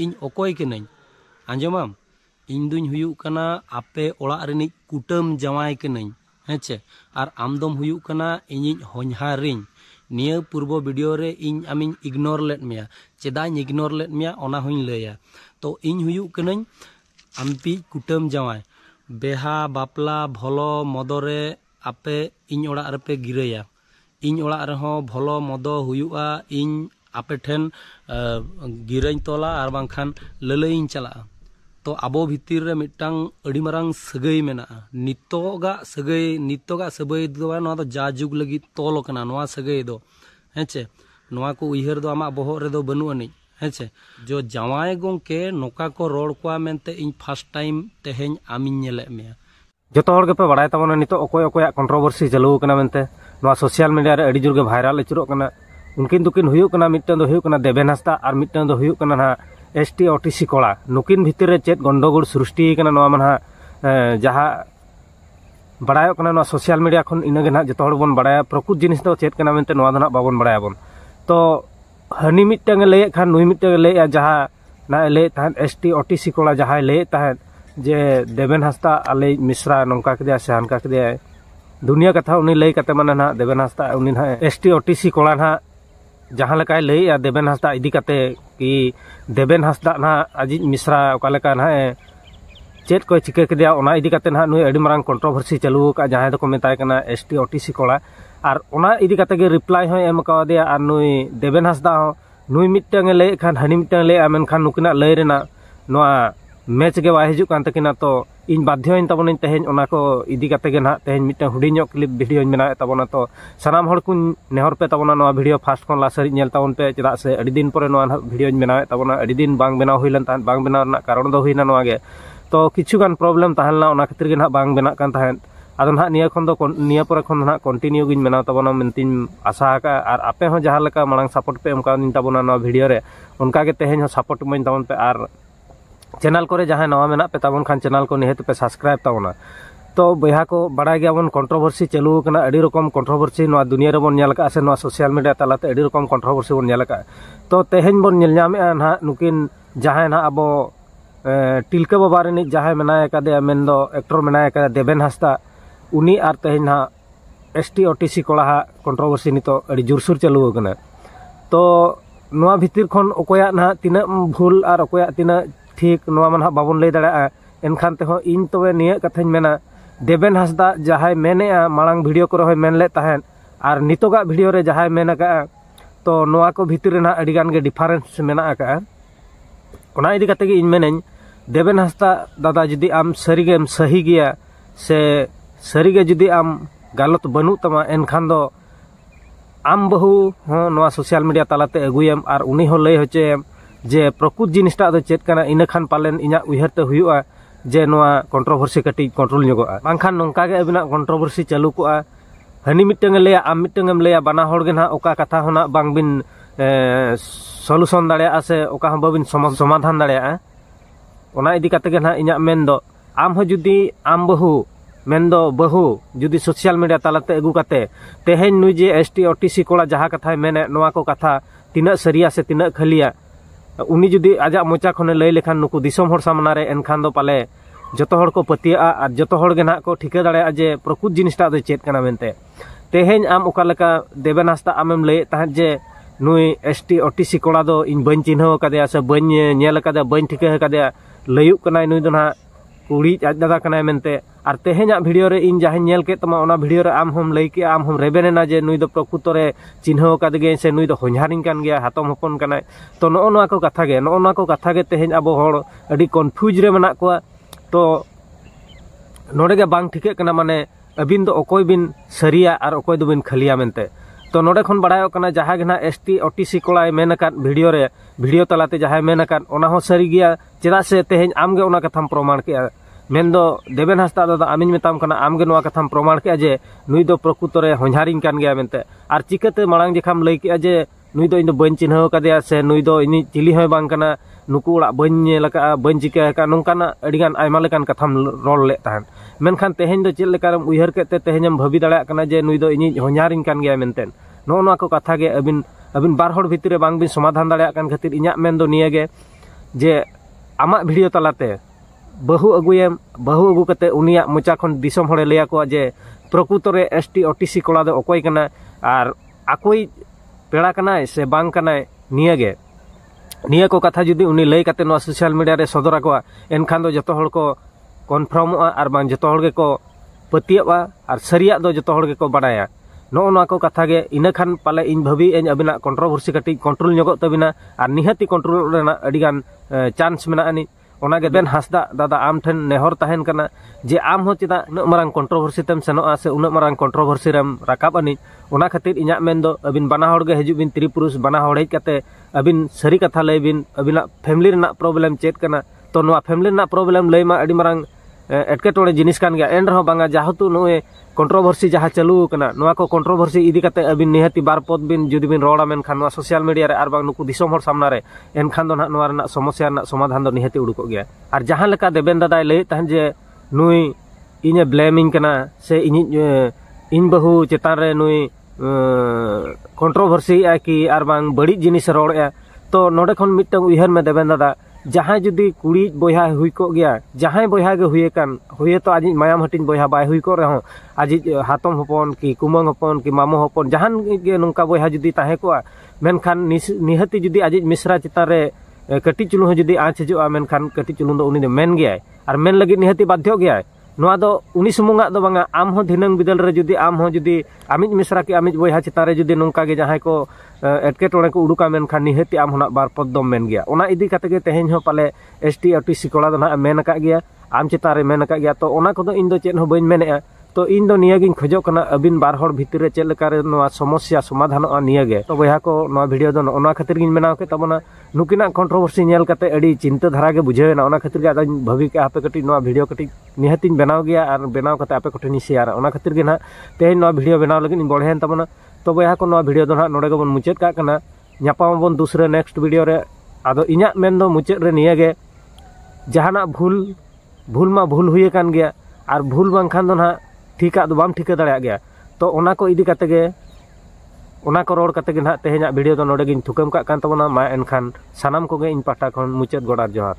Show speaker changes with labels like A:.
A: ᱤᱧ ᱚᱠᱚᱭ ᱠᱟᱹᱱᱟᱹᱧ ᱟᱸᱡᱚᱢᱟᱢ ᱤᱧ ᱫᱩᱧ ᱦᱩᱭᱩᱜ ᱠᱟᱱᱟ ᱟᱯᱮ ᱚᱲᱟᱜ ᱨᱤᱱᱤᱡ ᱠᱩᱴᱟᱹᱢ ᱡᱟᱶᱟᱭ ᱠᱟᱹᱱᱟᱹᱧ ᱦᱮᱸᱪᱮ ᱟᱨ ᱟᱢ ᱫᱚᱢ ᱦᱩᱭᱩᱜ ᱠᱟᱱᱟ ᱤᱧᱤᱡ ᱦᱚᱧᱦᱟᱨᱤᱧ ᱱᱤᱭᱟᱹ ᱯᱩᱨᱵᱚ ᱵᱷᱤᱰᱤᱭᱳ ᱨᱮ ᱤᱧ ᱟᱢᱤᱧ ᱤᱜᱽᱱᱳᱨ ᱞᱮᱫ ᱢᱮᱭᱟ ᱪᱮᱫᱟᱜ ᱤᱧ ᱤᱜᱽᱱᱳᱨ ᱞᱮᱫ ᱢᱮᱭᱟ ᱚᱱᱟ ᱦᱚᱧ ᱞᱟᱹᱭᱟ ᱛᱚ ᱤᱧ ᱦᱩᱭᱩᱜ ᱠᱟᱹᱱᱟᱹᱧ ᱟᱢᱯᱤᱡ ᱠᱩᱴᱟᱹᱢ ᱡᱟᱶᱟᱭ ᱵᱮᱦᱟ ᱵᱟᱯᱞᱟ ᱵᱷᱚᱞᱚ ᱢᱚᱫᱚᱨᱮ ᱟᱯᱮ ᱤᱧ ᱚᱲᱟᱜ ᱨᱮᱯᱮ ᱜᱤᱨᱟᱹᱭᱟ ᱤᱧ ᱚᱲᱟᱜ ᱨᱮᱦᱚᱸ ᱵᱷᱚᱞᱚ ᱢᱚᱫᱚ ᱦᱩᱭᱩᱜᱼᱟ ᱤᱧ ᱟᱯᱮ ᱴᱷᱮᱱ ᱜᱤᱨᱟᱹᱧ ᱛᱚᱞᱟ ᱟᱨ ᱵᱟᱝᱠᱷᱟᱱ ᱞᱟᱹᱞᱟᱹᱭᱤᱧ ᱪᱟᱞᱟᱜᱼᱟ ᱛᱚ ᱟᱵᱚ ᱵᱷᱤᱛᱤᱨ ᱨᱮ ᱢᱤᱫᱴᱟᱝ ᱟᱹᱰᱤ ᱢᱟᱨᱟᱝ ᱥᱟᱹᱜᱟᱹᱭ ᱢᱮᱱᱟᱜᱼᱟ ᱱᱤᱛᱚᱜᱟᱜ ᱥᱟᱹᱜᱟᱹᱭ ᱱᱤᱛᱚᱜᱟᱜ ᱥᱟᱹᱜᱟᱹᱭ ᱫᱚ ᱵᱟᱝ ᱱᱚᱣᱟ ᱫᱚ ᱡᱟ ᱡᱩᱜᱽ ᱞᱟᱹᱜᱤᱫ ᱛᱚᱞ ᱟᱠᱟᱱᱟ ᱱᱚᱣᱟ ᱥᱟᱹᱜᱟᱹᱭ ᱫᱚ ᱦᱮᱸ ᱪᱮ ᱱᱚᱣᱟ ᱠᱚ ᱩᱭᱦᱟᱹᱨ ᱫᱚ ᱟᱢᱟᱜ ᱵᱚᱦᱚᱜ ᱨᱮᱫᱚ ᱵᱟᱹᱱᱩᱜ ᱟᱹᱱᱤᱡ ᱦᱮᱸ ᱪᱮ ᱡᱚ ᱡᱟᱶᱟᱭ ᱜᱚᱝᱠᱮ ᱱᱚᱝᱠᱟ ᱠᱚ ᱨᱚᱲ ᱠᱚᱣᱟ ᱢᱮᱱᱛᱮ ᱤᱧ ᱯᱷᱟᱥᱴ ᱴᱟᱭᱤᱢ ᱛᱮᱦᱮᱧ ᱟᱢᱤᱧ ᱧᱮᱞᱮᱫ ᱢᱮᱭᱟ ᱡᱚᱛᱚ ᱦᱚᱲ ᱜᱮᱯᱮ ᱵᱟᱲᱟᱭ ᱛᱟᱵᱚᱱᱟ ᱱᱤᱛᱚᱜ ᱚᱠᱚᱭ ᱚᱠᱚᱭᱟᱜ ᱠᱚᱱᱴᱨᱳᱵᱷᱟᱨᱥᱤ ᱪᱟᱹᱞᱩ ᱟᱠᱟᱱᱟ ᱢᱮᱱᱛᱮ ᱱᱚᱣᱟ ᱥᱳᱥᱟᱞ ᱢᱤᱰᱤᱭᱟ ᱨᱮ ᱟᱹᱰᱤ ᱡᱳᱨ ᱜᱮ ᱵᱷᱟᱭᱨᱟᱞ ᱟᱹᱪᱩᱨᱚᱜ ᱠᱟᱱᱟ ᱩᱱᱠᱤᱱ ᱫᱚᱠᱤᱱ ᱦᱩᱭᱩᱜ ᱠᱟᱱᱟ ᱢᱤᱫᱴᱟᱝ ᱫᱚ ᱦᱩᱭᱩᱜ ᱠᱟᱱᱟ ᱫᱮᱵᱮᱱ ᱦᱟᱸᱥᱫᱟ ᱟᱨ ᱢᱤᱫᱴᱟᱝ ᱫᱚ ᱦᱩᱭᱩᱜ ᱠᱟᱱᱟ ᱱᱟᱦᱟᱜ S T O T C ᱠᱚᱲᱟ ᱱᱩᱠᱤᱱ ᱵᱷᱤᱛᱤᱨ ᱨᱮ ᱪᱮᱫ ᱜᱚᱱᱰᱚᱜᱳᱲ ᱥᱨᱤᱥᱴᱤ ᱟᱠᱟᱱᱟ ᱱᱚᱣᱟ ᱢᱟ ᱱᱟᱦᱟᱜ ᱡᱟᱦᱟᱸ ᱵᱟᱲᱟᱭᱚᱜ ᱠᱟᱱᱟ ᱱᱚᱣᱟ ᱥᱳᱥᱟᱞ ᱢᱤᱰᱤᱭᱟ ᱠᱷᱚᱱ ᱤᱱᱟᱹᱜᱮ ᱱᱟᱦᱟᱜ ᱡᱚᱛᱚ ᱦᱚᱲ ᱵᱚᱱ ᱵᱟᱲᱟᱭᱟ ᱯᱨᱚᱠᱩᱛ ᱡᱤᱱᱤᱥ ᱫᱚ ᱪᱮᱫ ᱠᱟᱱᱟ ᱢᱮᱱᱛᱮ ᱱᱚᱣᱟ ᱫᱚ ᱱᱟᱦᱟᱜ ᱵᱟᱵᱚᱱ ᱵᱟᱲᱟᱭᱟᱵᱚᱱ ᱛᱚ ᱦᱟᱹᱱᱤ ᱢᱤᱫᱴᱟᱝ ᱮ ᱞᱟᱹᱭᱮᱫ ᱠᱷᱟᱱ ᱱᱩᱭ ᱢᱤᱫᱴᱟᱝ ᱮ ᱞᱟᱹᱭᱮᱫᱼᱟ ᱡᱟᱦᱟᱸ ᱱᱟᱭ ᱞᱟᱹᱭᱮᱫ ᱛᱟᱦᱮᱸᱫ S T O T C ᱠᱚᱲᱟ ᱡᱟᱦᱟᱸᱭ ᱞᱟᱹᱭᱮᱫ ᱛᱟᱦᱮᱸᱫ ᱡᱮ ᱫᱮᱵᱮᱱ ᱦᱟᱸᱥᱫᱟ ᱟᱞᱮᱭᱤᱡ ᱢᱤᱥᱨᱟ ᱱᱚᱝᱠᱟ ᱠᱮᱫᱮᱭᱟ ᱥᱮ ᱦᱟᱱᱠᱟ ᱠᱮᱫᱮᱭᱟᱭ ᱫᱩᱱᱤᱭᱟᱹ ᱠᱟᱛᱷᱟ ᱩᱱᱤ ᱞᱟᱹᱭ ᱠᱟᱛᱮ ᱢᱟᱱᱮ ᱱᱟᱦᱟᱜ ᱫᱮᱵᱮᱱ ᱦᱟᱸᱥᱫᱟ ᱩᱱᱤ ᱱᱟᱦᱟᱜ S T O T C ᱠᱚᱲᱟ ᱱᱟᱦᱟᱜ ᱡᱟᱦᱟᱸ ᱞᱮᱠᱟᱭ ᱞᱟᱹᱭᱮᱜᱼᱟ ᱫᱮᱵᱮᱱ ᱦᱟᱸᱥᱫᱟ ᱤᱫᱤ ᱠᱟᱛᱮ ᱠᱤ ᱫᱮᱵᱮᱱ ᱦᱟᱸᱥᱫᱟ ᱱᱟᱦᱟᱜ ᱟᱡᱤᱡ ᱢᱤᱥᱨᱟ ᱚᱠᱟ ᱞᱮᱠᱟ ᱱᱟᱦᱟᱜ ᱮ ᱪᱮᱫ ᱠᱚᱭ ᱪᱤᱠᱟᱹ ᱠᱮᱫᱮᱭᱟ ᱚᱱᱟ ᱤᱫᱤ ᱠᱟᱛᱮ ᱱᱟᱦᱟᱜ ᱱᱩᱭ ᱟᱹᱰᱤ ᱢᱟᱨᱟᱝ ᱠᱚᱱᱴᱨᱳᱵᱷᱟᱨᱥᱤ ᱪᱟᱹᱞᱩ ᱟᱠᱟᱫᱼᱟ ᱡᱟᱦᱟᱸᱭ ᱫᱚᱠᱚ ᱢᱮᱛᱟᱭ ᱠᱟᱱᱟ S T O T C ᱠᱚᱲᱟ ᱟᱨ ᱚᱱᱟ ᱤᱫᱤ ᱠᱟᱛᱮ ᱜᱮ ᱨᱤᱯᱞᱟᱭ ᱦᱚᱸᱭ ᱮᱢ ᱠᱟᱣᱫᱮᱭᱟ ᱟᱨ ᱱᱩᱭ ᱫᱮᱵᱮᱱ ᱦᱟᱸᱥᱫᱟ ᱦᱚᱸ ᱱᱩᱭ ᱢᱤᱫᱴᱟᱝ ᱮ ᱞᱟᱹᱭᱮᱫ ᱠᱷᱟᱱ ᱦᱟᱹᱱᱤ ᱢᱤᱫᱴᱟᱝ ᱮ ᱞᱟᱹᱭᱮᱫᱼᱟ ᱢᱮᱱᱠᱷᱟᱱ ᱱᱩᱠᱤᱱᱟᱜ ᱞᱟᱹᱭ ᱨᱮᱱᱟᱜ ᱱᱚᱣᱟ ᱢᱮᱪ ᱜᱮ ᱵᱟᱭ ᱦᱤᱡᱩᱜ ᱠᱟᱱ ᱛᱟᱹᱠᱤᱱᱟ ᱛᱚ ᱤᱧ ᱵᱟᱫᱽᱫᱷᱚᱭᱮᱱ ᱛᱟᱵᱚᱱᱟᱹᱧ ᱛᱮᱦᱮᱧ ᱚᱱᱟ ᱠᱚ ᱤᱫᱤ ᱠᱟᱛᱮ ᱜᱮ ᱱᱟᱦᱟᱜ ᱛᱮᱦᱮᱧ ᱢᱤᱫᱴᱟᱝ ᱦᱩᱰᱤᱧ ᱧᱚᱜ ᱠᱞᱤᱯ ᱵᱷᱤᱰᱭᱳᱧ ᱵᱮᱱᱟᱣᱮᱫ ᱛᱟᱵᱚᱱᱟ ᱛᱚ ᱥᱟᱱᱟᱢ ᱦᱚᱲ ᱠᱚᱧ ᱱᱮᱦᱚᱨ ᱯᱮ ᱛᱟᱵᱚᱱᱟ ᱱᱚᱣᱟ ᱵᱷᱤᱰᱭᱳ ᱯᱷᱟᱥᱴ ᱠᱷᱚᱱ ᱞᱟᱥᱴ ᱦᱟᱹᱨᱤᱡ ᱧᱮᱞ ᱛᱟᱵᱚᱱ ᱯᱮ ᱪᱮᱫᱟᱜ ᱥᱮ ᱟᱹᱰᱤ ᱫᱤᱱ ᱯᱚᱨᱮ ᱱᱚᱣᱟ ᱱᱟᱦᱟᱜ ᱵᱷᱤᱰᱭᱳᱧ ᱵᱮᱱᱟᱣᱮᱫ ᱛᱟᱵᱚᱱᱟ ᱟᱹᱰᱤ ᱫᱤᱱ ᱵᱟᱝ ᱵᱮᱱᱟᱣ ᱦᱩᱭ ᱞᱮᱱ ᱛᱟᱦᱮᱸᱫ ᱵᱟᱝ ᱵᱮᱱᱟᱣ ᱨᱮᱱᱟᱜ ᱠᱟᱨᱚᱱ ᱫᱚ ᱦᱩᱭᱱᱟ ᱱᱚᱣᱟ ᱜᱮ ᱛᱚ ᱠᱤᱪᱷᱩ ᱜᱟᱱ ᱯᱨᱚᱵᱞᱮᱢ ᱛᱟᱦᱮᱸ ᱞᱮᱱᱟ ᱚᱱᱟ ᱠᱷᱟᱹᱛᱤᱨ ᱜᱮ ᱱᱟᱦᱟᱜ ᱵᱟᱝ ᱵᱮᱱᱟᱜ ᱠᱟᱱ ᱛᱟᱦᱮᱸᱫ ᱟᱫᱚ ᱱᱟᱦᱟᱜ ᱱᱤᱭᱟᱹ ᱠᱷᱚᱱ ᱫᱚ ᱱᱤᱭᱟᱹ ᱯᱚᱨᱮ ᱠᱷᱚᱱ ᱫᱚ ᱱᱟᱦᱟᱜ ᱠᱚᱱᱴᱤᱱᱤᱭᱩ ᱜᱤᱧ ᱵᱮᱱᱟᱣ ᱛᱟᱵᱚᱱᱟ ᱢᱮᱱᱛᱤᱧ ᱟᱥᱟ ᱟᱠᱟᱫᱼᱟ ᱟᱨ ᱟᱯᱮ ᱦᱚᱸ ᱡᱟᱦᱟᱸ ᱞᱮᱠᱟ ᱢᱟᱲᱟᱝ ᱥᱟᱯᱳᱨᱴ ᱯᱮ ᱮᱢ ᱠᱟᱣᱫᱤᱧ ᱛᱟᱵᱚᱱᱟ ᱱᱚᱣᱟ ᱵᱷᱤᱰᱭᱳ ᱨᱮ ᱚᱱᱠᱟ ᱜᱮ ᱛᱮᱦᱮᱧ ᱦᱚᱸ ᱥᱟᱯᱳᱨᱴ ᱤᱢᱟᱹᱧ ᱛᱟᱵᱚᱱ ᱯᱮ ᱟᱨ ᱪᱮᱱᱮᱞ ᱠᱚᱨᱮ ᱡᱟᱦᱟᱸᱭ ᱱᱟᱣᱟ ᱢᱮᱱᱟᱜ ᱯᱮ ᱛᱟᱵᱚᱱ ᱠᱷᱟᱱ ᱪᱮᱱᱮᱞ ᱠᱚ ᱱᱤᱦᱟᱹᱛ ᱯᱮ ᱥᱟᱵᱥᱠᱨᱟᱭᱤᱵᱽ ᱛᱟᱵᱚᱱᱟ ᱛᱚ ᱵᱚᱭᱦᱟ ᱠᱚ ᱵᱟᱲᱟᱭ ᱜᱮᱭᱟᱵᱚᱱ ᱠᱚᱱᱴᱨᱳᱵᱷᱟᱨᱥᱤ ᱪᱟᱹᱞᱩ ᱟᱠᱟᱱᱟ ᱟᱹᱰᱤ ᱨᱚᱠᱚᱢ ᱠᱚᱱᱴᱨᱳᱵᱷᱟᱨᱥᱤ ᱱᱚᱣᱟ ᱫᱩᱱᱤᱭᱟᱹ ᱨᱮᱵᱚᱱ ᱧᱮᱞ ᱟᱠᱟᱫᱼᱟ ᱥᱮ ᱱᱚᱣᱟ ᱥᱳᱥᱟᱞ ᱢᱤᱰᱤᱭᱟ ᱛᱟᱞᱟᱛᱮ ᱟᱹᱰᱤ ᱨᱚᱠᱚᱢ ᱠᱚᱱᱴᱨᱳᱵᱷᱟᱨᱥᱤ ᱵᱚᱱ ᱧᱮᱞ ᱟᱠᱟᱫᱼᱟ ᱛᱚ ᱛᱮᱦᱮᱧ ᱵᱚᱱ ᱧᱮᱞ ᱧᱟᱢᱮᱫᱼᱟ ᱱᱟᱦᱟᱜ ᱱᱩᱠᱤᱱ ᱡᱟᱦᱟᱸᱭ ᱱᱟᱦᱟᱜ ᱟᱵᱚ ᱴᱤᱞᱠᱟᱹ ᱵᱟᱵᱟ ᱨᱤᱱᱤᱡ ᱡᱟᱦᱟᱸᱭ ᱢᱮᱱᱟᱭ ᱟᱠᱟᱫᱮᱭᱟ ᱢᱮᱱᱫᱚ ᱮᱠᱴᱚᱨ ᱢᱮᱱᱟᱭ ᱟᱠᱟᱫᱮᱭᱟ ᱫᱮᱵᱮᱱ ᱦᱟᱸᱥᱫᱟ ᱩᱱᱤ ᱟᱨ ᱛᱮᱦᱮᱧ ᱱᱟᱦᱟᱜ S T O T C ᱠᱚᱲᱟ ᱦᱟᱜ ᱠᱚᱱᱴᱨᱳᱵᱷᱟᱨᱥᱤ ᱱᱤᱛᱚᱜ ᱟᱹᱰᱤ ᱡᱳᱨᱥᱳᱨ ᱪᱟᱹᱞᱩ ᱟᱠᱟᱱᱟ ᱛᱚ ᱱᱚᱣᱟ ᱵᱷᱤᱛᱤᱨ ᱠᱷᱚᱱ ᱚᱠᱚᱭᱟᱜ ᱱᱟᱦᱟᱜ ᱛᱤᱱᱟᱹᱜ ᱵᱷᱩᱞ ᱟᱨ ᱚᱠᱚᱭᱟᱜ ᱛᱤᱱᱟᱹᱜ ᱴᱷᱤᱠ ᱱᱚᱣᱟ ᱢᱟ ᱱᱟᱦᱟᱜ ᱵᱟᱵᱚᱱ ᱞᱟᱹᱭ ᱫᱟᱲᱮᱭᱟᱜᱼᱟ ᱮᱱᱠᱷᱟᱱ ᱛᱮᱦᱚᱸ ᱤᱧ ᱛᱚᱵᱮ ᱱᱤᱭᱟᱹ ᱠᱟᱛᱷᱟᱧ ᱢᱮᱱᱟ ᱫᱮᱵᱮᱱ ᱦᱟᱸᱥᱫᱟ ᱡᱟᱦᱟᱸᱭ ᱢᱮᱱᱮᱜᱼᱟ ᱢᱟᱲᱟᱝ ᱵᱷᱤᱰᱤᱭᱳ ᱠᱚᱨᱮ ᱦᱚᱸᱭ ᱢᱮᱱ ᱞᱮᱫ ᱛᱟᱦᱮᱸᱫ ᱟᱨ ᱱᱤᱛᱚᱜᱟᱜ ᱵᱷᱤᱰᱤᱭᱳ ᱨᱮ ᱡᱟᱦᱟᱸᱭ ᱢᱮᱱ ᱟᱠᱟᱫᱼᱟ ᱛᱚ ᱱᱚᱣᱟ ᱠᱚ ᱵᱷᱤᱛᱤᱨ ᱨᱮ ᱱᱟᱦᱟᱜ ᱟᱹᱰᱤ ᱜᱟᱱ ᱜᱮ ᱰᱤᱯᱷᱟᱨᱮᱱᱥ ᱢᱮᱱᱟᱜ ᱟᱠᱟᱫᱼᱟ ᱚᱱᱟ ᱤᱫᱤ ᱠᱟᱛᱮ ᱜᱮ ᱤᱧ ᱢᱮᱱᱟᱹᱧ ᱫᱮᱵᱮᱱ ᱦᱟᱸᱥᱫᱟ ᱫᱟᱫᱟ ᱡᱩᱫᱤ ᱟᱢ ᱥᱟᱹᱨᱤᱜᱮᱢ ᱥᱟᱹᱦᱤ ᱜᱮᱭᱟ ᱥᱮ ᱥᱟᱹᱨᱤᱜᱮ ᱡᱩᱫᱤ ᱟᱢ ᱜᱟᱞᱚᱛ ᱵᱟᱹᱱᱩᱜ ᱛᱟᱢᱟ ᱮᱱᱠᱷᱟᱱ ᱫᱚ ᱟᱢ ᱵᱟᱹᱦᱩ ᱦᱚᱸ ᱱᱚᱣᱟ ᱥᱳᱥᱟᱞ ᱢᱤᱰᱤᱭᱟ ᱛᱟᱞᱟᱛᱮ ᱟᱹᱜᱩᱭᱮᱢ ᱟᱨ ᱩᱱᱤ ᱦᱚᱸ ᱞᱟᱹᱭ ᱦᱚᱪᱚᱭᱮᱢ ᱡᱮ ᱯᱨᱚᱠᱩᱛ ᱡᱤᱱᱤᱥᱴᱟᱜ ᱫᱚ ᱪᱮᱫ ᱠᱟᱱᱟ ᱤᱱᱟᱹ ᱠᱷᱟᱱ ᱯᱟᱞᱮᱱ ᱤᱧᱟᱹᱜ ᱩᱭᱦᱟᱹᱨ ᱛᱮ ᱦᱩᱭᱩᱜᱼᱟ ᱡᱮ ᱱᱚᱣᱟ ᱠᱚᱱᱴᱨᱳᱵᱷᱟᱨᱥᱤ ᱠᱟᱹᱴᱤᱡ ᱠᱚᱱᱴᱨᱳᱞ ᱧᱚᱜᱚᱜᱼᱟ ᱵᱟᱝᱠᱷᱟᱱ ᱱᱚᱝᱠᱟ ᱜᱮ ᱟᱹᱵᱤᱱᱟᱜ ᱠᱚᱱᱴᱨᱳᱵᱷᱟᱨᱥᱤ ᱪᱟᱹᱞᱩ ᱠᱚᱜᱼᱟ ᱦᱟᱹᱱᱤ ᱢᱤᱫᱴᱟᱝ ᱮ ᱞᱟᱹᱭᱟ ᱟᱢ ᱢᱤᱫᱴᱟᱝ ᱮᱢ ᱞᱟᱹᱭᱟ ᱵᱟᱱᱟ ᱦᱚᱲ ᱜᱮ ᱱᱟᱦᱟᱜ ᱚᱠᱟ ᱠᱟᱛᱷᱟ ᱦᱚᱸ ᱱᱟᱦᱟᱜ ᱵᱟᱝᱵᱤᱱ ᱥᱚᱞᱩᱥᱚᱱ ᱫᱟᱲᱮᱭᱟᱜᱼᱟ ᱥᱮ ᱚᱠᱟ ᱦᱚᱸ ᱵᱟᱹᱵᱤᱱ ᱥᱚᱢᱟᱫᱷᱟᱱ ᱫᱟᱲᱮᱭᱟᱜᱼᱟ ᱚᱱᱟ ᱤᱫᱤ ᱠᱟᱛᱮ ᱜᱮ ᱱᱟᱦᱟᱜ ᱤᱧᱟᱹᱜ ᱢᱮᱱ ᱫᱚ ᱟᱢ ᱦᱚᱸ ᱡᱩᱫᱤ ᱟᱢ ᱵᱟᱹᱦᱩ ᱢᱮᱱ ᱫᱚ ᱵᱟᱹᱦᱩ ᱡᱩᱫᱤ ᱥᱳᱥᱟᱞ ᱢᱤᱰᱤᱭᱟ ᱛᱟᱞᱟᱛᱮ ᱟᱹᱜᱩ ᱠᱟᱛᱮ ᱛᱮᱦᱮᱧ ᱱᱩᱭ ᱡᱮ S T O T C ᱠᱚᱲᱟ ᱡᱟᱦᱟᱸ ᱠᱟᱛᱷᱟᱭ ᱢᱮᱱᱮᱫ ᱱᱚᱣᱟ ᱠᱚ ᱠᱟᱛᱷᱟ ᱛᱤᱱᱟᱹᱜ ᱥᱟᱹᱨᱤᱭᱟ ᱥᱮ ᱛᱤᱱᱟᱹᱜ ᱠᱷᱟᱹᱞᱤᱭᱟ ᱩᱱᱤ ᱡᱩᱫᱤ ᱟᱡᱟᱜ ᱢᱚᱪᱟ ᱠᱷᱚᱱᱮ ᱞᱟᱹᱭ ᱞᱮᱠᱷᱟᱱ ᱱᱩᱠᱩ ᱫᱤᱥᱚᱢ ᱦᱚᱲ ᱥᱟᱢᱱᱟ ᱨᱮ ᱮᱱᱠᱷᱟᱱ ᱫᱚ ᱯᱟᱞᱮ ᱡᱚᱛᱚ ᱦᱚᱲ ᱠᱚ ᱯᱟᱹᱛᱭᱟᱹᱜᱼᱟ ᱟᱨ ᱡᱚᱛᱚ ᱦᱚᱲ ᱜᱮ ᱱᱟᱦᱟᱜ ᱠᱚ ᱴᱷᱤᱠᱟᱹ ᱫᱟᱲᱮᱭᱟᱜᱼᱟ ᱡᱮ ᱯᱨᱚᱠᱩᱛ ᱡᱤᱱᱤᱥᱴᱟᱜ ᱫᱚ ᱪᱮᱫ ᱠᱟᱱᱟ ᱢᱮᱱᱛᱮ ᱛᱮᱦᱮᱧ ᱟᱢ ᱚᱠᱟ ᱞᱮᱠᱟ ᱫᱮᱵᱮᱱ ᱦᱟᱸᱥᱫᱟ ᱟᱢᱮᱢ ᱞᱟᱹᱭᱮᱫ ᱛᱟᱦᱮᱸᱫ ᱡᱮ ᱱᱩᱭ S T O T C ᱠᱚᱲᱟ ᱫᱚ ᱤᱧ ᱵᱟᱹᱧ ᱪᱤᱱᱦᱟᱹᱣ ᱟᱠᱟᱫᱮᱭᱟ ᱥᱮ ᱵᱟᱹᱧ ᱧᱮᱞ ᱟᱠᱟᱫᱮᱭᱟ ᱵᱟᱹᱧ ᱴᱷᱤᱠᱟᱹ ᱟᱠᱟᱫᱮᱭᱟ ᱞᱟᱹᱭᱚᱜ ᱠᱟᱱᱟᱭ ᱱᱩᱭ ᱫᱚ ᱱᱟᱦᱟᱜ ᱠᱩᱲᱤᱭᱤᱡ ᱟᱡ ᱫᱟᱫᱟ ᱠᱟᱱᱟᱭ ᱢᱮᱱᱛᱮ ᱟᱨ ᱛᱮᱦᱮᱧᱟᱜ ᱵᱷᱤᱰᱭᱳ ᱨᱮ ᱤᱧ ᱡᱟᱦᱟᱸᱧ ᱧᱮᱞ ᱠᱮᱫ ᱛᱟᱢᱟ ᱚᱱᱟ ᱵᱷᱤᱰᱭᱳ ᱨᱮ ᱟᱢ ᱦᱚᱸᱢ ᱞᱟᱹᱭ ᱠᱮᱫᱼᱟ ᱟᱢ ᱦᱚᱸᱢ ᱨᱮᱵᱮᱱ ᱮᱱᱟ ᱡᱮ ᱱᱩᱭ ᱫᱚ ᱯᱨᱚᱠᱩᱛᱚ ᱨᱮ ᱪᱤᱱᱦᱟᱹᱣ ᱟᱠᱟᱫᱮ ᱜᱤᱭᱟᱹᱧ ᱥᱮ ᱱᱩᱭ ᱫᱚ ᱦᱚᱧᱦᱟᱨᱤᱧ ᱠᱟᱱ ᱜᱮᱭᱟᱭ ᱦᱟᱛᱚᱢ ᱦᱚᱯᱚᱱ ᱠᱟᱱᱟᱭ ᱛᱚ ᱱᱚᱜᱼᱚ ᱱᱚᱣᱟ ᱠᱚ ᱠᱟᱛᱷᱟ ᱜᱮ ᱱᱚᱜᱼᱚ ᱱᱚᱣᱟ ᱠᱚ ᱠᱟᱛᱷᱟ ᱜᱮ ᱛᱮᱦᱮᱧ ᱟᱵᱚ ᱦᱚᱲ ᱟᱹᱰᱤ ᱠᱚᱱᱯᱷᱤᱭᱩᱡᱽ ᱨᱮ ᱢᱮᱱᱟᱜ ᱠᱚᱣᱟ ᱛᱚ ᱱᱚᱰᱮ ᱜᱮ ᱵᱟᱝ ᱴᱷᱤᱠᱟᱹᱜ ᱠᱟᱱᱟ ᱢᱟᱱᱮ ᱟᱹᱵᱤᱱ ᱫᱚ ᱚᱠᱚᱭ ᱵᱤᱱ ᱥᱟᱹᱨᱤᱭᱟ ᱟᱨ ᱚᱠᱚᱭ ᱫᱚᱵᱤᱱ ᱠᱷᱟᱹᱞᱤᱭᱟ ᱢᱮᱱᱛᱮ ᱛᱚ ᱱᱚᱰᱮ ᱠᱷᱚᱱ ᱵᱟᱲᱟᱭᱚᱜ ᱠᱟᱱᱟ ᱡᱟᱦᱟᱸ ᱜᱮ ᱱᱟᱦᱟᱜ S T O T C ᱠᱚᱲᱟᱭ ᱢᱮᱱ ᱟᱠᱟᱫ ᱵᱷᱤᱰᱤᱭᱳ ᱨᱮ ᱵᱷᱤᱰᱤᱭᱳ ᱛᱟᱞᱟᱛᱮ ᱡᱟᱦᱟᱸᱭ ᱢᱮᱱ ᱟᱠᱟᱫ ᱚᱱᱟ ᱦᱚᱸ ᱥᱟᱹᱨᱤ ᱜᱮᱭᱟ ᱪᱮᱫᱟᱜ ᱥᱮ ᱛᱮᱦᱮᱧ ᱟᱢ ᱜᱮ ᱚᱱᱟ ᱠᱟᱛᱷᱟᱢ ᱯᱨᱚᱢᱟᱬ ᱠᱮᱜᱼᱟ ᱢᱮᱱ ᱫᱚ ᱫᱮᱵᱮᱱ ᱦᱟᱸᱥᱫᱟ ᱫᱟᱫᱟ ᱟᱢᱤᱧ ᱢᱮᱛᱟᱢ ᱠᱟᱱᱟ ᱟᱢ ᱜᱮ ᱱᱚᱣᱟ ᱠᱟᱛᱷᱟᱢ ᱯᱨᱚᱢᱟᱬ ᱠᱮᱜᱼᱟ ᱡᱮ ᱱᱩᱭ ᱫᱚ ᱯᱨᱚᱠᱩᱛᱚ ᱨᱮ ᱦᱚᱧᱦᱟᱨᱤᱧ ᱠᱟᱱ ᱜᱮᱭᱟ ᱢᱮᱱᱛᱮ ᱟᱨ ᱪᱤᱠᱟᱹᱛᱮ ᱢᱟᱲᱟᱝ ᱡᱚᱠᱷᱟᱢ ᱞᱟᱹᱭ ᱠᱮᱜᱼᱟ ᱡᱮ ᱱᱩᱭ ᱫᱚ ᱤᱧ ᱫᱚ ᱵᱟᱹᱧ ᱪᱤᱱᱦᱟᱹᱣ ᱟᱠᱟᱫᱮᱭᱟ ᱥᱮ ᱱᱩᱭ ᱫᱚ ᱤᱧᱤᱡ ᱪᱤᱞᱤ ᱦᱚᱸᱭ ᱵᱟᱝ ᱠᱟᱱᱟ ᱱᱩᱠᱩ ᱚᱲᱟᱜ ᱵᱟᱹᱧ ᱧᱮᱞ ᱟᱠᱟᱫᱼᱟ ᱵᱟᱹᱧ ᱪᱤᱠᱟᱹ ᱟᱠᱟᱫᱼᱟ ᱱᱚᱝᱠᱟᱱᱟᱜ ᱟᱹᱰᱤ ᱜᱟᱱ ᱟᱭᱢᱟ ᱞᱮᱠᱟᱱ ᱠᱟᱛᱷᱟᱢ ᱨᱚᱲ ᱞᱮᱫ ᱛᱟᱦᱮᱸᱫ ᱢᱮᱱᱠᱷᱟᱱ ᱛᱮᱦᱮᱧ ᱫᱚ ᱪᱮᱫ ᱞᱮᱠᱟᱨᱮᱢ ᱩᱭᱦᱟᱹᱨ ᱠᱮᱫ ᱛᱮ ᱛᱮᱦᱮᱧ ᱮᱢ ᱵᱷᱟᱹᱵᱤ ᱫᱟᱲᱮᱭᱟᱜ ᱠᱟᱱᱟ ᱡᱮ ᱱᱩᱭ ᱫᱚ ᱤᱧᱤᱡ ᱦᱚᱧᱦᱟᱨᱤᱧ ᱠᱟᱱ ᱜᱮᱭᱟᱭ ᱢᱮᱱᱛᱮ ᱱᱚᱜᱼᱚ ᱱᱚᱣᱟ ᱠᱚ ᱠᱟᱛᱷᱟ ᱜᱮ ᱟᱹᱵᱤᱱ ᱟᱹᱵᱤᱱ ᱵᱟᱨ ᱦᱚᱲ ᱵᱷᱤᱛᱨᱤ ᱨᱮ ᱵᱟᱝ ᱵᱤᱱ ᱥᱚᱢᱟᱫᱷᱟᱱ ᱫᱟᱲᱮᱭᱟᱜ ᱠᱟᱱ ᱠᱷᱟᱹᱛᱤᱨ ᱤᱧᱟᱹᱜ ᱢᱮᱱ ᱫᱚ ᱱᱤᱭᱟᱹ ᱜᱮ ᱡᱮ ᱟᱢᱟᱜ ᱵᱷᱤᱰᱤᱭᱳ ᱛᱟᱞᱟᱛᱮ ᱵᱟᱹᱦᱩ ᱟᱹᱜᱩᱭᱮᱢ ᱵᱟᱹᱦᱩ ᱟᱹᱜᱩ ᱠᱟᱛᱮ ᱩᱱᱤᱭᱟᱜ ᱢᱚᱪᱟ ᱠᱷᱚᱱ ᱫᱤᱥᱚᱢ ᱦᱚᱲᱮ ᱞᱟᱹᱭ ᱟᱠᱚᱣᱟ ᱡᱮ ᱯᱨᱚᱠᱩᱛᱚ ᱨᱮ S T O T C ᱠᱚᱲᱟ ᱫᱚ ᱚᱠᱚᱭ ᱠᱟᱱᱟᱭ ᱟᱨ ᱟᱠᱚᱭ ᱯᱮᱲᱟ ᱠᱟᱱᱟᱭ ᱥᱮ ᱵᱟᱝ ᱠᱟᱱᱟᱭ ᱱᱤᱭᱟᱹ ᱜᱮ ᱱᱤᱭᱟᱹ ᱠᱚ ᱠᱟᱛᱷᱟ ᱡᱩᱫᱤ ᱩᱱᱤ ᱞᱟᱹᱭ ᱠᱟᱛᱮ ᱱᱚᱣᱟ ᱥᱳᱥᱟᱞ ᱢᱤᱰᱤᱭᱟ ᱨᱮ ᱥᱚᱫᱚᱨ ᱟᱠᱚᱣᱟ ᱮᱱᱠᱷᱟᱱ ᱫᱚ ᱡᱚᱛᱚ ᱦᱚᱲ ᱠᱚ ᱠᱚᱱᱯᱷᱟᱨᱢᱚᱜᱼᱟ ᱟᱨ ᱵᱟᱝ ᱡᱚᱛᱚ ᱦᱚᱲ ᱜᱮᱠᱚ ᱯᱟᱹᱛᱭᱟᱹᱜᱼᱟ ᱟᱨ ᱥᱟᱹᱨᱤᱭᱟᱜ ᱫᱚ ᱡᱚᱛᱚ ᱦᱚᱲ ᱜᱮᱠᱚ ᱵᱟᱰᱟᱭᱟ ᱱᱚᱜᱼᱚ ᱱᱚᱣᱟ ᱠᱚ ᱠᱟᱛᱷᱟ ᱜᱮ ᱤᱱᱟᱹ ᱠᱷᱟᱱ ᱯᱟᱞᱮ ᱤᱧ ᱵᱷᱟᱹᱵᱤᱭᱮᱫ ᱟᱹᱧ ᱟᱵᱤᱱᱟᱜ ᱠᱚᱱᱴᱨᱳᱵᱷᱟᱨᱥᱤ ᱠᱟᱹᱴᱤᱡ ᱠᱚᱱᱴᱨᱳᱞ ᱧᱚᱜᱚᱜ ᱛᱟᱹᱵᱤᱱᱟ ᱟᱨ ᱱᱤᱦᱟᱹᱛᱤ ᱠᱚᱱᱴᱨᱳᱞ ᱨᱮᱱᱟᱜ ᱟᱹᱰᱤ ᱜᱟᱱ ᱪᱟᱱᱥ ᱢᱮᱱᱟᱜ ᱟᱹᱱᱤᱡ ᱚᱱᱟ ᱜᱮ ᱵᱮᱱ ᱦᱟᱸᱥᱫᱟ ᱫᱟᱫᱟ ᱟᱢ ᱴᱷᱮᱱ ᱱᱮᱦᱚᱨ ᱛᱟᱦᱮᱱ ᱠᱟᱱᱟ ᱡᱮ ᱟᱢ ᱦᱚᱸ ᱪᱮᱫᱟᱜ ᱩᱱᱟᱹᱜ ᱢᱟᱨᱟᱝ ᱠᱚᱱᱴᱨᱳᱵᱷᱟᱨᱥᱤ ᱛᱮᱢ ᱥᱮᱱᱚᱜᱼᱟ ᱥᱮ ᱩᱱᱟᱹᱜ ᱢᱟᱨᱟᱝ ᱠᱚᱱᱴᱨᱳᱵᱷᱟᱨᱥᱤ ᱨᱮᱢ ᱨᱟᱠᱟᱵ ᱟᱹᱱᱤᱡ ᱚᱱᱟ ᱠᱷᱟᱹᱛᱤᱨ ᱤᱧᱟᱹᱜ ᱢᱮᱱ ᱫᱚ ᱟᱹᱵᱤᱱ ᱵᱟᱱᱟ ᱦᱚᱲ ᱜᱮ ᱦᱤᱡᱩᱜ ᱵᱤᱱ ᱛᱨᱤ ᱯᱩᱨᱩᱥ ᱵᱟᱱᱟ ᱦᱚᱲ ᱦᱮᱡ ᱠᱟᱛᱮ ᱟᱹᱵᱤᱱ ᱥᱟᱹᱨᱤ ᱠᱟᱛᱷᱟ ᱞᱟᱹᱭ ᱵᱤᱱ ᱟᱹᱵᱤᱱᱟᱜ ᱯᱷᱮᱢᱞᱤ ᱨᱮᱱᱟᱜ ᱯᱨᱚᱵᱞᱮᱢ ᱪᱮᱫ ᱠᱟᱱᱟ ᱛᱚ ᱱᱚᱣᱟ ᱯᱷᱮᱢᱞᱤ ᱨᱮᱱᱟᱜ ᱯᱨᱚᱵᱞᱮᱢ ᱞᱟᱹᱭ ᱢᱟ ᱟᱹᱰᱤ ᱢᱟᱨᱟᱝ ᱮᱴᱠᱮᱴᱚᱬᱮ ᱡᱤᱱᱤᱥ ᱠᱟᱱ ᱜᱮᱭᱟ ᱮᱱᱨᱮᱦᱚᱸ ᱵᱟᱝᱟ ᱡᱮᱦᱮᱛᱩ ᱱᱚᱜᱼᱚᱭ ᱠᱚᱱᱴᱨᱚᱵᱷᱟᱨᱥᱤ ᱡᱟᱦᱟᱸ ᱪᱟᱹᱞᱩ ᱠᱟᱱᱟ ᱱᱚᱣᱟ ᱠᱚ ᱠᱚᱱᱴᱨᱚᱵᱷᱟᱨᱥᱤ ᱤᱫᱤ ᱠᱟᱛᱮ ᱟᱹᱵᱤᱱ ᱱᱤᱦᱟᱹᱛᱤ ᱵᱟᱨ ᱯᱚᱫ ᱵᱤᱱ ᱡᱩᱫᱤ ᱵᱤᱱ ᱨᱚᱲᱟ ᱢᱮᱱᱠᱷᱟᱱ ᱱᱚᱣᱟ ᱥᱳᱥᱟᱞ ᱢᱤᱰᱤᱭᱟ ᱨᱮ ᱟᱨ ᱵᱟᱝ ᱱᱩᱠᱩ ᱫᱤᱥᱚᱢ ᱦᱚᱲ ᱥᱟᱢᱱᱟ ᱨᱮ ᱮᱱᱠᱷᱟᱱ ᱫᱚ ᱱᱟᱦᱟᱜ ᱱᱚᱣᱟ ᱨᱮᱱᱟᱜ ᱥᱚᱢᱚᱥᱥᱟ ᱨᱮᱱᱟᱜ ᱥᱚᱢᱟᱫᱷᱟᱱ ᱫᱚ ᱱᱤᱦᱟᱹᱛᱤ ᱩᱰᱩᱠᱚᱜ ᱜᱮᱭᱟ ᱟᱨ ᱡᱟᱦᱟᱸ ᱞᱮᱠᱟ ᱫᱮᱵᱮᱱ ᱫᱟᱫᱟᱭ ᱞᱟᱹᱭᱮᱫ ᱛᱟᱦᱮᱸᱫ ᱡᱮ ᱱᱩᱭ ᱤᱧᱮ ᱵᱞᱮᱢᱤᱧ ᱠᱟᱱᱟ ᱥᱮ ᱤᱧᱤᱡ ᱤᱧ ᱵᱟᱹᱦᱩ ᱪᱮᱛᱟᱱ ᱨᱮ ᱱᱩᱭ ᱠᱚᱱᱴᱨᱚᱵᱷᱟᱨᱥᱤᱭᱮᱫ ᱟᱭ ᱠᱤ ᱟᱨ ᱵᱟᱝ ᱵᱟᱹᱲᱤᱡ ᱡᱤᱱᱤᱥᱮ ᱨᱚᱲᱮᱫᱼᱟ ᱛᱚ ᱱᱚᱰᱮ ᱠᱷᱚᱱ ᱢᱤᱫᱴᱟᱹᱝ ᱩᱭᱦᱟᱹᱨ ᱢᱮ ᱫᱮᱵᱮᱱ ᱫᱟᱫᱟ ᱡᱟᱦᱟᱸᱭ ᱡᱩᱫᱤ ᱠᱩᱲᱤᱭᱤᱡ ᱵᱚᱭᱦᱟᱭ ᱦᱩᱭ ᱠᱚᱜ ᱜᱮᱭᱟ ᱡᱟᱦᱟᱸᱭ ᱵᱚᱭᱦᱟ ᱜᱮ ᱦᱩᱭ ᱟᱠᱟᱱ ᱦᱩᱭᱮᱛᱚ ᱟᱡᱤᱡ ᱢᱟᱭᱟᱢ ᱦᱟᱹᱴᱤᱧ ᱵᱚᱭᱦᱟ ᱵᱟᱭ ᱦᱩᱭ ᱠᱚᱜ ᱨᱮᱦᱚᱸ ᱟᱡᱤᱡ ᱦᱟᱛᱚᱢ ᱦᱚᱯᱚᱱ ᱠᱤ ᱠᱩᱢᱟᱹᱝ ᱦᱚᱯᱚᱱ ᱠᱤ ᱢᱟᱢᱚ ᱦᱚᱯᱚᱱ ᱡᱟᱦᱟᱱᱤᱡ ᱜᱮ ᱱᱚᱝᱠᱟ ᱵᱚᱭᱦᱟ ᱡᱩᱫᱤ ᱛᱟᱦᱮᱸ ᱠᱚᱜᱼᱟ ᱢᱮᱱᱠᱷᱟᱱ ᱱᱤᱦᱟᱹᱛᱤ ᱡᱩᱫᱤ ᱟᱡᱤᱡ ᱢᱤᱥᱨᱟ ᱪᱮᱛᱟᱱ ᱨᱮ ᱠᱟᱹᱴᱤᱡ ᱪᱩᱞᱩᱝ ᱦᱚᱸ ᱡᱩᱫᱤ ᱟᱸᱪ ᱦᱤᱡᱩᱜᱼᱟ ᱢᱮᱱᱠᱷᱟᱱ ᱠᱟᱹᱴᱤᱡ ᱪᱩᱞᱩᱝ ᱫᱚ ᱩᱱᱤ ᱫᱚ ᱢᱮᱱ ᱜᱮᱭᱟᱭ ᱟᱨ ᱢᱮᱱ ᱞᱟᱹᱜᱤᱫ ᱱᱤᱦᱟᱹᱛᱤ ᱵᱟᱫᱽᱫᱷᱚᱜ ᱜᱮᱭᱟᱭ ᱱᱚᱣᱟ ᱫᱚ ᱩᱱᱤ ᱥᱩᱢᱩᱝᱟᱜ ᱫᱚ ᱵᱟᱝᱟ ᱟᱢ ᱦᱚᱸ ᱫᱷᱤᱱᱟᱹᱝ ᱵᱤᱫᱟᱹᱞ ᱨᱮ ᱡᱩᱫᱤ ᱟᱢ ᱦᱚᱸ ᱡᱩᱫᱤ ᱟᱢᱤᱡ ᱢᱤᱥᱨᱟ ᱠᱤ ᱟᱢᱤᱡ ᱵᱚᱭᱦᱟ ᱪᱮᱛᱟᱱ ᱨᱮ ᱡᱩᱫᱤ ᱱᱚᱝᱠᱟ ᱜᱮ ᱡᱟᱦᱟᱸᱭ ᱠᱚ ᱮᱴᱠᱮᱴᱚᱬᱮ ᱠᱚ ᱩᱰᱩᱠᱟ ᱢᱮᱱᱠᱷᱟᱱ ᱱᱤᱦᱟᱹᱛᱤ ᱟᱢ ᱦᱚᱸ ᱱᱟᱜ ᱵᱟᱨ ᱯᱚᱫ ᱫᱚᱢ ᱢᱮᱱ ᱜᱮᱭᱟ ᱚᱱᱟ ᱤᱫᱤ ᱠᱟᱛᱮ ᱜᱮ ᱛᱮᱦᱮᱧ ᱦᱚᱸ ᱯᱟᱞᱮ S T R T C ᱠᱚᱲᱟ ᱫᱚ ᱱᱟᱜ ᱢᱮᱱ ᱟᱠᱟᱫ ᱜᱮᱭᱟ ᱟᱢ ᱪᱮᱛᱟᱱ ᱨᱮ ᱢᱮᱱ ᱟᱠᱟᱫ ᱜᱮᱭᱟ ᱛᱚ ᱚᱱᱟ ᱠᱚᱫᱚ ᱤᱧ ᱫᱚ ᱪᱮᱫ ᱦᱚᱸ ᱵᱟᱹᱧ ᱢᱮᱱᱮᱜᱼᱟ ᱛᱚ ᱤᱧ ᱫᱚ ᱱᱤᱭᱟᱹ ᱜᱤᱧ ᱠᱷᱚᱡᱚᱜ ᱠᱟᱱᱟ ᱟᱹᱵᱤᱱ ᱵᱟᱨ ᱦᱚᱲ ᱵᱷᱤᱛᱤᱨ ᱨᱮ ᱪᱮᱫ ᱞᱮᱠᱟᱨᱮ ᱱᱚᱣᱟ ᱥᱚᱢᱚᱥᱥᱟ ᱥᱚᱢᱟᱫᱷᱟᱱᱚᱜᱼᱟ ᱱᱤᱭᱟᱹ ᱜᱮ ᱛᱚ ᱵᱚᱭᱦᱟ ᱠᱚ ᱱᱚᱣᱟ ᱵᱷᱤᱰᱤᱭᱳ ᱫᱚ ᱱᱚᱜᱼᱚ ᱱᱚᱣᱟ ᱠᱷᱟᱹᱛᱤᱨ ᱜᱤᱧ ᱵᱮᱱᱟᱣ ᱠᱮᱫ ᱛᱟᱵᱚᱱᱟ ᱱᱩᱠᱤᱱᱟᱜ ᱠᱚᱱᱴᱨᱳᱵᱷᱟᱨᱥᱤ ᱧᱮᱞ ᱠᱟᱛᱮ ᱟᱹᱰᱤ ᱪᱤᱱᱛᱟᱹ ᱫᱷᱟᱨᱟ ᱜᱮ ᱵᱩᱡᱷᱟᱹᱣ ᱮᱱᱟ ᱚᱱᱟ ᱠᱷᱟᱹᱛᱤᱨ ᱜᱮ ᱟᱫᱚᱧ ᱵᱷᱟᱹᱵᱤ ᱠᱮᱜᱼᱟ ᱦᱟᱯᱮ ᱠᱟᱹᱴᱤᱡ ᱱᱚᱣᱟ ᱵᱷᱤᱰᱤᱭᱳ ᱠᱟᱹᱴᱤᱡ ᱱᱤᱦᱟᱹᱛᱤᱧ ᱵᱮᱱᱟᱣ ᱜᱮᱭᱟ ᱟᱨ ᱵᱮᱱᱟᱣ ᱠᱟᱛᱮ ᱟᱯᱮ ᱠᱚᱴᱷᱮᱱᱤᱧ ᱥᱮᱭᱟᱨᱟ ᱚᱱᱟ ᱠᱷᱟᱹᱛᱤᱨ ᱜᱮ ᱱᱟᱦᱟᱜ ᱛᱮᱦᱮᱧ ᱱᱚᱣᱟ ᱵᱷᱤᱰᱤᱭᱳ ᱵᱮᱱᱟᱣ ᱞᱟᱹᱜᱤᱫ ᱤᱧ ᱵᱚᱲᱦᱮᱭᱮᱱ ᱛᱟᱵᱚᱱᱟ ᱛᱚ ᱵᱚᱭᱦᱟ ᱠᱚ ᱱᱚᱣᱟ ᱵᱷᱤᱰᱤᱭᱳ ᱫᱚ ᱱᱟᱦᱟᱜ ᱱᱚᱰᱮ ᱜᱮᱵᱚᱱ ᱢᱩᱪᱟᱹᱫ ᱠᱟᱜ ᱠᱟᱱᱟ ᱧᱟᱯᱟᱢ ᱟᱵᱚᱱ ᱫᱩᱥᱨᱟᱹ ᱱᱮᱠᱥᱴ ᱵᱷᱤᱰᱤᱭᱳ ᱨᱮ ᱟᱫᱚ ᱤᱧᱟᱹᱜ ᱢᱮᱱ ᱫᱚ ᱢᱩᱪᱟᱹᱫ ᱨᱮ ᱱᱤᱭᱟᱹ ᱜᱮ ᱡᱟᱦᱟᱱᱟᱜ ᱵᱷᱩᱞ ᱵᱷᱩᱞ ᱢᱟ ᱵᱷᱩᱞ ᱦᱩᱭ ᱟᱠᱟᱱ ᱜᱮᱭᱟ ᱟᱨ ᱵᱷᱩᱞ ᱵᱟᱝᱠᱷᱟᱱ ᱫᱚ ᱱᱟᱦᱟᱜ ᱴᱷᱤᱠᱟᱜ ᱫᱚ ᱵᱟᱢ ᱴᱷᱤᱠᱟᱹ ᱫᱟᱲᱮᱭᱟᱜ ᱜᱮᱭᱟ ᱛᱚ ᱚᱱᱟ ᱠᱚ ᱤᱫᱤ ᱠᱟᱛᱮ ᱜᱮ ᱚᱱᱟ ᱠᱚ ᱨᱚᱲ ᱠᱟᱛᱮ ᱜᱮ ᱱᱟᱦᱟᱜ ᱛᱮᱦᱮᱧᱟᱜ ᱵᱷᱤᱰᱤᱭᱳ ᱫᱚ ᱱᱚᱰᱮ ᱜᱮᱧ ᱛᱷᱩᱠᱟᱹᱢ ᱠᱟᱜ ᱠᱟᱱ ᱛᱟᱵᱚᱱᱟ ᱢᱟ ᱮᱱᱠᱷᱟᱱ ᱥᱟᱱᱟᱢ ᱠᱚᱜᱮ ᱤᱧ ᱯᱟᱦᱴᱟ ᱠᱷᱚᱱ ᱢᱩᱪᱟᱹᱫ ᱜᱚᱰ ᱟᱨ ᱡᱚᱦᱟᱨ